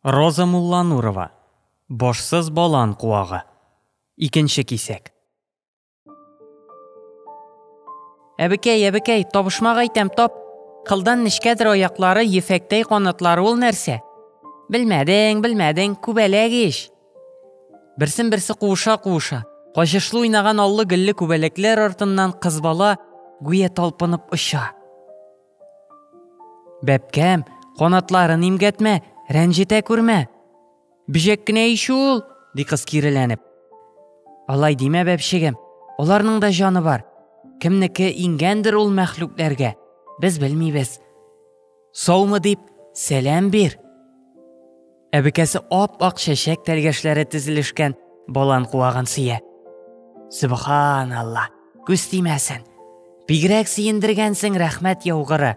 Роза Мулланурова, Башсыз балан куагы. Икенче кисәк. Әбекәй, әбекәй, табышмак әйтәм, тап. Кылдан нечкәдер аяклары, ефәктәй канатлары ул нәрсә? Белмәдең, белмәдең, күбәләк ич. Берсен-берсе куыша-куыша, качышлы уйнаган аллы-гөлле күбәләкләр артыннан кыз бала гүя талпынып оча. Бәбкәм, канатларын имгәтмә, рәнҗетә күрмә. Бөҗәк кенә ич ул, ди кыз киреләнеп. Алай димә, бәбчегем, аларның да җаны бар. Кемнеке иңгәндер ул мәхлүкләргә, без белмибез. Саумы дип, сәлам бир. Әбекәсе ап-ак чәчәк тәлгәшләре тезелешкән балан куагын сөя. Субханалла, күз тимәсен. Бигрәк сөендергәнсең, рәхмәт яугыры.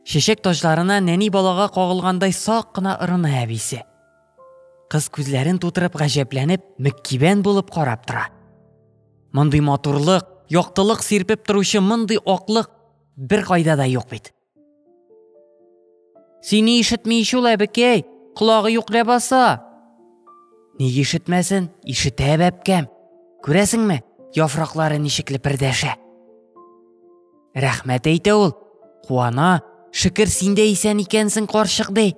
Чәчәк таҗларына нәни балага кагылгандай сак кына ырына әбисе. Кыз күзләрен тутырып гаҗәпләнеп, мөккибән булып карап тора. Мондый матурлык, яктылык сирпеп торучы мондый аклык бер кайда да юк бит. Сине ишетми ич ул әбекәй, колагы юк ләбаса. Ник ишетмәсен, ишетә бәбкәм. Күрәсеңме, яфраклары ничек лепердәшә. Рәхмәт әйтә ул, куана, шөкер син дә исән икәнсең, карчык ди.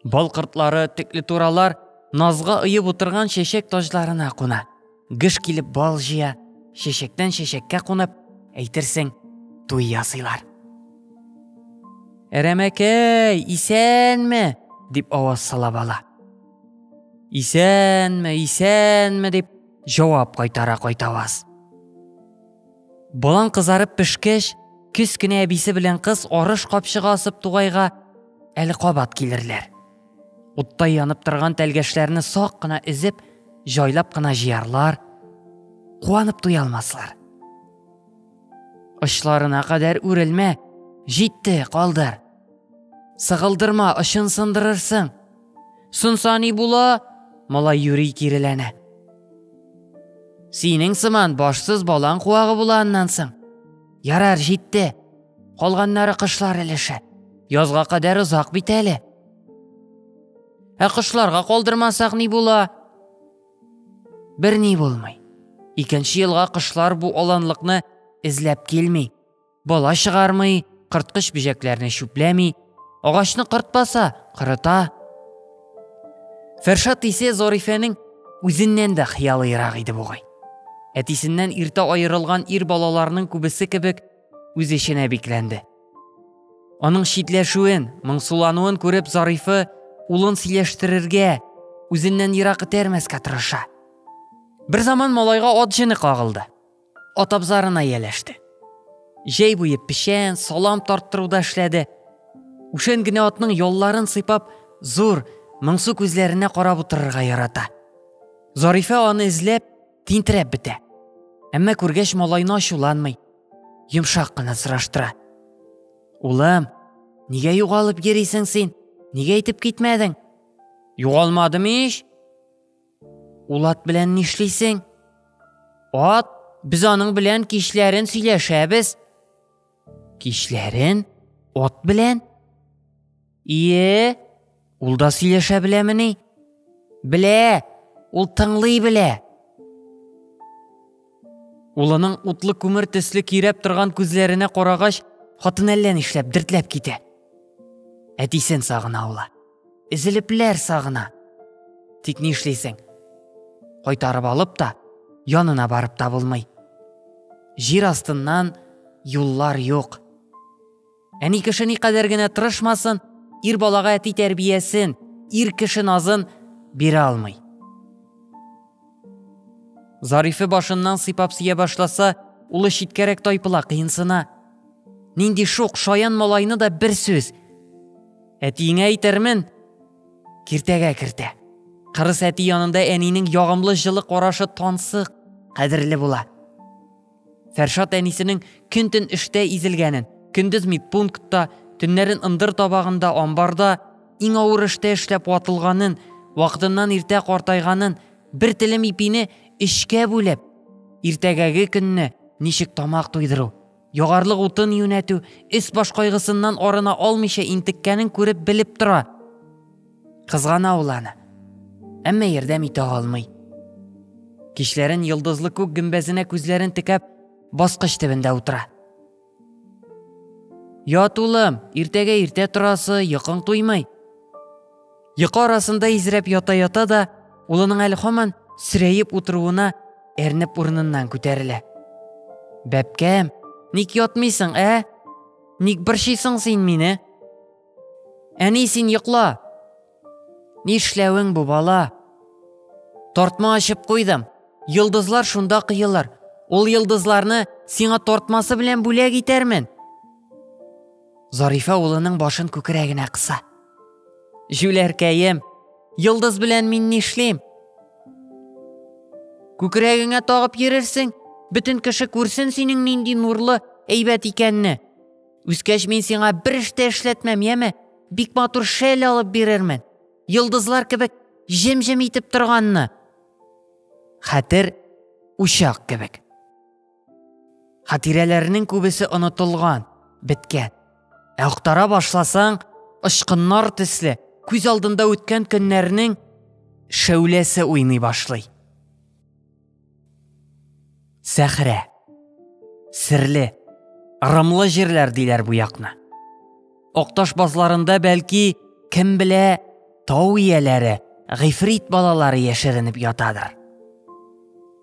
Бал кортлары, текле туралар назга оеп утырган чәчәк таҗларына куна. Гыш килеп бал җыя, чәчәктән чәчәккә кунып, әйтерсең, туй ясыйлар. Әрәмәкәй, исәнме? дип аваз сала бала. Исәнме, исәнме дип җавап кайтара кайтаваз. Балан кызарып пешкәч, кечкенә әбисе белән кыз арыш капчыгы асып тугайга әле кабат килерләр. Уттай янып торган тәлгәшләрне сак кына эзеп, җайлап кына җыярлар, куанып туя алмаслар. Очларына кадәр үрелмә, җитте, калдыр. Сыгылдырма, очын сындырырсың. Сынса ни була? Малай юри киреләнә. Синең сыман башсыз балаң куагы була аннан соң. Ярар, җитте. Калганнары кышлар өлеше. Язга кадәр озак бит әле. Ә кышларга калдырмасак ни була? Бер ни булмый. Икенче елга кышлар бу аланлыкны эзләп килми. Бала чыгармый, кырткыч бөҗәкләрне чүпләми, Агачны кыртпаса, кырыта. Фәршат исә Зарифәнең үзеннән дә хыялыйрак иде бугай. Әтисеннән иртә аерылган ир балаларның күбесе кебек үз эченә бикләнде. Аның читләшүен, моңсулануын күреп Зарифы улын сөйләштерергә, үзеннән ерак этәрмәскә тырыша. Бер заман малайга ат җене кагылды. Ат абзарына ияләште. Җәй буе печән, салам тарттыруда эшләде. Үшен генә атның ялларын сыйпап, зур, моңсу күзләренә карап утырырга ярата. Зарифә аны эзләп, тинтерәп бетә. Әмма күргәч малайны ачуланмый. Йомшак кына сораштыра. Улым, нигә югалып йөрисең син? Нигә әйтеп китмәдең? Югалмадым ич. Ул ат белән нишлисең? Ат, без аның белән кичләрен сөйләшәбез. Кичләрен? Ат белән? Ие, ул да сөйләшә беләмени? Белә, ул тыңлый белә. Улының утлы күмер төсле кирәп торган күзләренә карагач, хатын әллә нишләп дертләп китә. Әтисен сагына ул. Эзелепләр сагына. Тик ни эшлисең? Кайтарып алып та, янына барып та булмый. Җир астыннан юллар юк. Әни кеше никадәр генә тырышмасын, ир балага әти тәрбиясен, ир кеше назын бирә алмый. Зарифе башыннан сыйпап сия башласа, улы читкәрәк тайпыла, кыенсына. Нинди шук, шаян малайны да бер сүз. Әтиеңә әйтермен, киртәгә кертә. Кырыс әти янында әнинең ягымлы җылы карашы тансык, кадерле була. Фәршат әнисенең көн-төн эштә изелгәнен, көндез медпунктта, төннәрен ындыр табагында, амбарда иң авыр эштә эшләп ватылганын, вакытыннан иртә картайганын, бер телем ипине өчкә бүлеп, иртәгәге көнне ничек тамак туйдыру, ягарлык утын юнәтү, өс-баш кайгысыннан арына алмыйча интеккәнен күреп-белеп тора. Кызгана ул аны. Әмма ярдәм итә алмый. Кичләрен йолдызлы күк гөмбәзенә күзләрен текәп, баскыч төбендә утыра. Ят, улым, иртәгә иртә торасы, йокың туймый. Йокы арасында изрәп ята-ята да, улының әле һаман сирәеп утыруына әрнеп урыныннан күтәрелә. Бәпкәм, ник ятмыйсың, ә? Ник борчыйсың син мине? Әни, син йокла! Нишләвең бу, бала? Тортма ачып куйдым. Йолдызлар шунда кыелыр. Ул йолдызларны сиңа тортмасы белән бүләк итәрмен. Зарифа улының башын күкрәгенә кыса. Җүләркәем, йолдыз белән мин нишлим? Күкрәгеңә тагып йөрерсең, бөтен кеше күрсен синең нинди нурлы, әйбәт икәнне. Үскәч мин сиңа бер эш тә эшләтмәм, яме? Бик матур шәл алып бирермен. Йолдызлар кебек җем-җем итеп торганны. Хәтер учак кебек. Хатирәләрнең күбесе онытылган, беткән. Ә актара башласаң, ычкыннар төсле, күз алдында үткән көннәрнең шәүләсе уйный башлый. Сәхрә. Серле, ырымлы җирләр диләр бу якны. Окташ базларында бәлки, кем белә, тау ияләре, гыйфрит балалары яшеренеп ятадыр.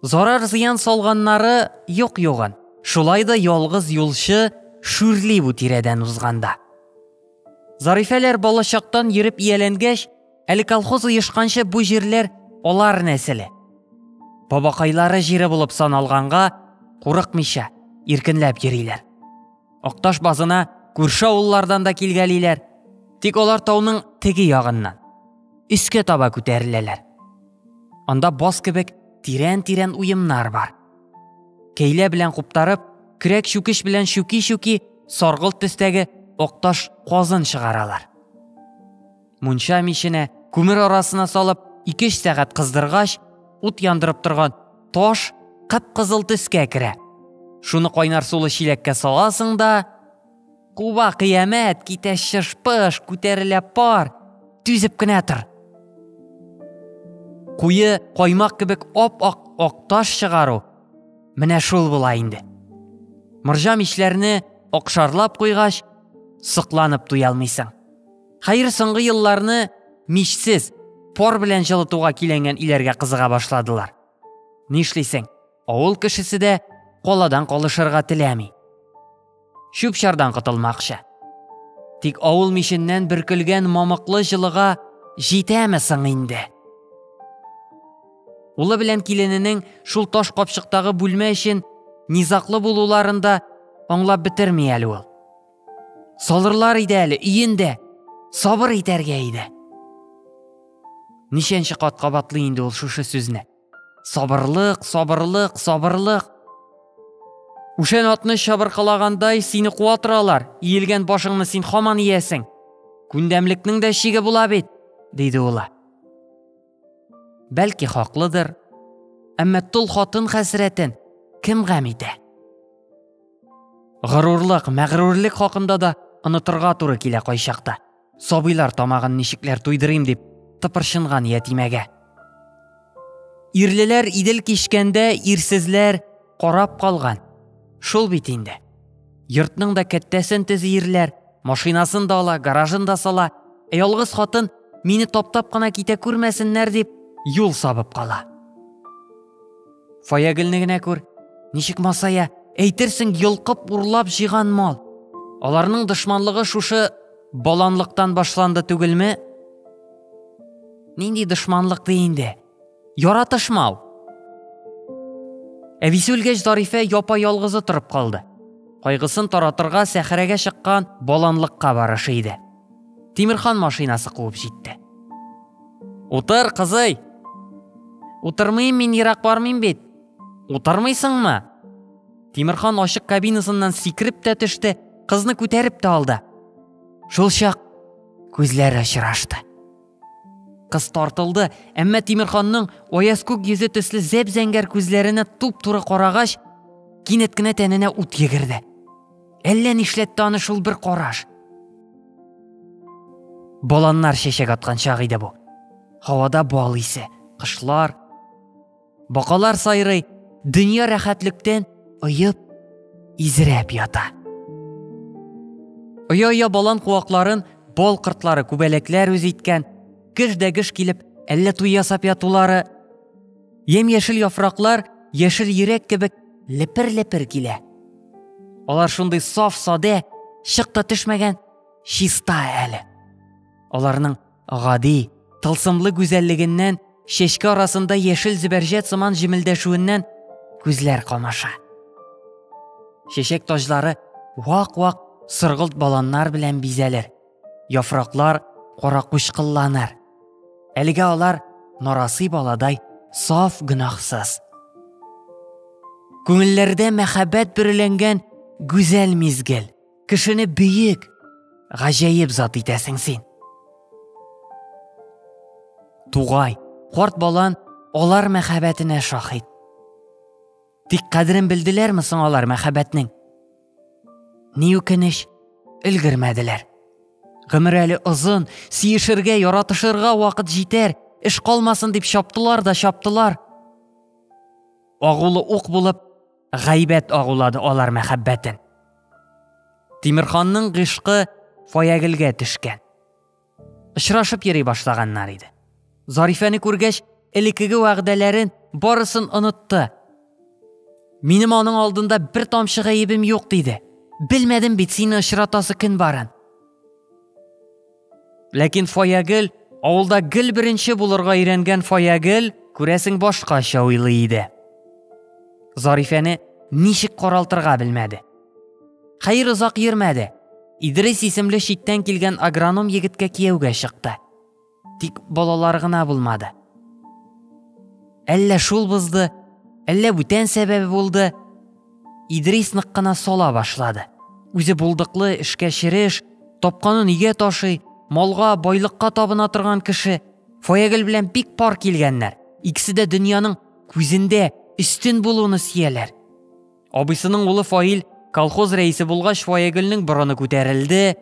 Зарар зыян салганнары юк югын. Шулай да ялгыз юлчы шүрли бу тирәдән узганда. Зарифәләр балачактан йөреп ияләнгәч, Әле колхоз оешканчы бу җирләр алар нәселе. Бабакайлары җире булып саналганга, курыкмыйча, иркенләп йөриләр. Акташ базына күрше авыллардан да килгәлиләр. Тик алар тауның теге ягыннан, өскә таба күтәреләләр. Анда баз кебек тирән-тирән уемнар бар. Кәйлә белән куптарып, крәк чүкеш белән чүки-чүки саргылт төстәге акташ казын чыгаралар. Мунча миченә, күмер арасына салып, 2-3 сәгать кыздыргач, ут яндырып торган таш кып-кызыл төскә керә. Шуны кайнар сулы чиләккә саласың да, куба кыямәт, китә шыш-пыш, күтәрелә пар, түзеп кенә тор. Куе каймак кебек ап-ак ак таш чыгару менә шул була инде. Морҗа мичләрне акшарлап куйгач, сокланып туялмыйсың. Хәер, соңгы елларны мичсез, пор белән җылытуга киләнгән иләргә кызыга башладылар. Нишлисең, авыл кешесе дә коладан калышырга теләми. Чүп-чардан котылмакчы. Тик авыл миченнән бөркелгән мамыклы җылыга җитәме соң инде? Улы белән килененең шул таш капчыктагы бүлмә өчен низаклы булуларында аңлап бетерми әле ул. Салырлар иде әле, иендә. Сабыр итәргә иде. Ничәнче кат кабатлый инде ул шушы сүзне. Сабырлык, сабырлык, сабырлык. Ушен атны чабыркалагандай сине куа торалар. Иелгән башыңны син хаман иясең. Күндәмлекнең дә чиге була бит, диде улы. Бәлки хаклыдыр, әмма тол хатын хәсрәтен кем гам итә? Горурлык, мәгърурлек хакында да онытырга туры килә кайчакта. Сабыйлар тамагын ничекләр туйдырыйм дип тыпырчынган ятимәгә. Ирлеләр идел кичкәндә ирсезләр карап калган. Шул бит инде. Йортның да кәттәсен тезиерләр, машинасын да ала, гаражын да сала. Ә ялгыз хатын мине таптап кына китә күрмәсеннәр дип юл сабып кала. Фаягелне генә күр, ничек масая, әйтерсең йолкып урлап җыйган мал. Аларның дошманлыгы шушы баланлыктан башланды түгелме? Нинди дошманлык ди инде? Яратышмау. Әбисе үлгәч, Зарифә япа ялгызы торып калды. Кайгысын таратырга сәхәрәгә чыккан баланлыкка барышы иде. Тимирхан машинасы куып җитте. Утыр, кызый. Утырмыйм, мин ерак бармыйм бит. Утырмыйсыңмы? Тимирхан ачык кабинасыннан сикереп тә төште, кызны күтәреп тә алды. Шул чак күзләр очрашты. Кыз тартылды, әмма Тимерханның аяз күк йөзе төсле зәп-зәңгәр күзләренә туп-туры карагач, кинәт кенә тәненә ут йөгерде. Әллә нишләтте аны шул бер караш. Баланнар чәчәк аткан чак иде бу. Һавада бал исе, кышлар, Бакалар сайрый, дөнья рәхәтлектән оеп, изрәп ята. Оя-оя балан куакларын бал кыртлары, күбәләкләр үз иткән, геш дә геш килеп, әллә туй ясап ятулары. Ем-яшел яфраклар яшел йөрәк кебек лепер-лепер килә. Алар шундый саф-саде, чык та төшмәгән, чиста әле. Аларның Гади, тылсымлы гүзәллегеннән, чәчкә арасында яшел зөбәрҗәт сыман җемелдәшүеннән күзләр камаша. Чәчәк таҗлары вак-вак сыргылт баланнар белән бизәлер. Яфраклар каракучкылланыр. Әлегә алар нарасый баладай саф гөнаһсыз. Күңелләрдә мәхәббәт бөреләнгән гүзәл мизгел. Кешене бөек, гаҗәеп зат итәсең син. Тугай, карт балан алар мәхәббәтенә шаһит. Тик кадерен белделәрме соң алар мәхәббәтнең? Ни үкенеч, өлгермәделәр. Гомер әле озын, сиешергә, яратышырга вакыт җитәр, эш калмасын дип чаптылар да чаптылар. Агулы ук булып, гайбәт агулады алар мәхәббәтен. Тимирханның гышкы Фаягелгә төшкән. Очрашып йөри башлаганнар иде. Зарифәне күргәч, элекеге вәгъдәләрен барысын онытты. Минем аның алдында бер тамчы гаебем юк диде. Белмәдем бит сине очратасы көн барын. Ләкин Фаягел, авылда гел беренче булырга өйрәнгән Фаягел, күрәсең башкача уйлый иде. Зарифәне ничек каралтырга белмәде. Хәер озак йөрмәде. Идрис исемле читтән килгән агроном егеткә кияүгә чыкты. Тик балалар гына булмады. Әллә шул бызды, әллә бүтән сәбәбе булды. Идрис нык кына сала башлады. Үзе булдыклы, эшкә череш, тапканын өйгә ташый, малга, байлыкка табына торган кеше. Фаягөл белән бик пар килгәннәр. Икесе дә дөньяның күзендә өстен булуны сөяләр. Абыйсының улы Фаил колхоз рәисе булгач, Фаягөлнең борыны күтәрелде.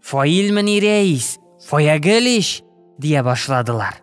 Фаилмени рәис, Фаягөл ич, дия башладылар.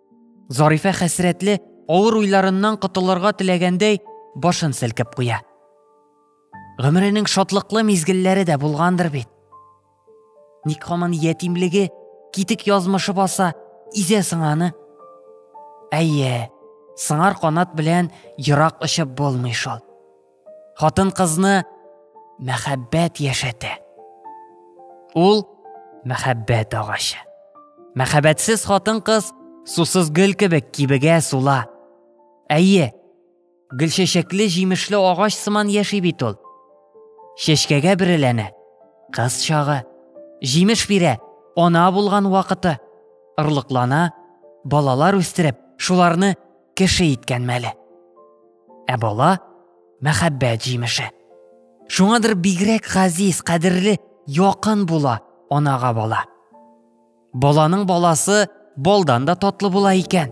Зарифә хәсрәтле, авыр уйларыннан котылырга теләгәндәй, башын селкеп куя. Гомеренең шатлыклы мизгелләре дә булгандыр бит. Ник хаман ятимлеге, китек язмышы баса, изә сыңаны? Әйе, сыңар канат белән ерак очып булмый шул. Хатын-кызны мәхәббәт яшәтә. Ул мәхәббәт агачы. Мәхәббәтсез хатын-кыз сусыз гөл кебек кибегә сула. Әйе, гөлчәчәкле җимешле агач сыман яши бит ул. Чәчкәгә биреләнә. Кыз чагы, җимеш бирә, ана булган вакыты, орлыклана, балалар үстереп, шуларны кеше иткән мәле. Ә бала мәхәббәт җимеше. Шуңадыр бигрәк газиз, кадерле, якын була анага бала. Баланың баласы балдан да татлы була икән.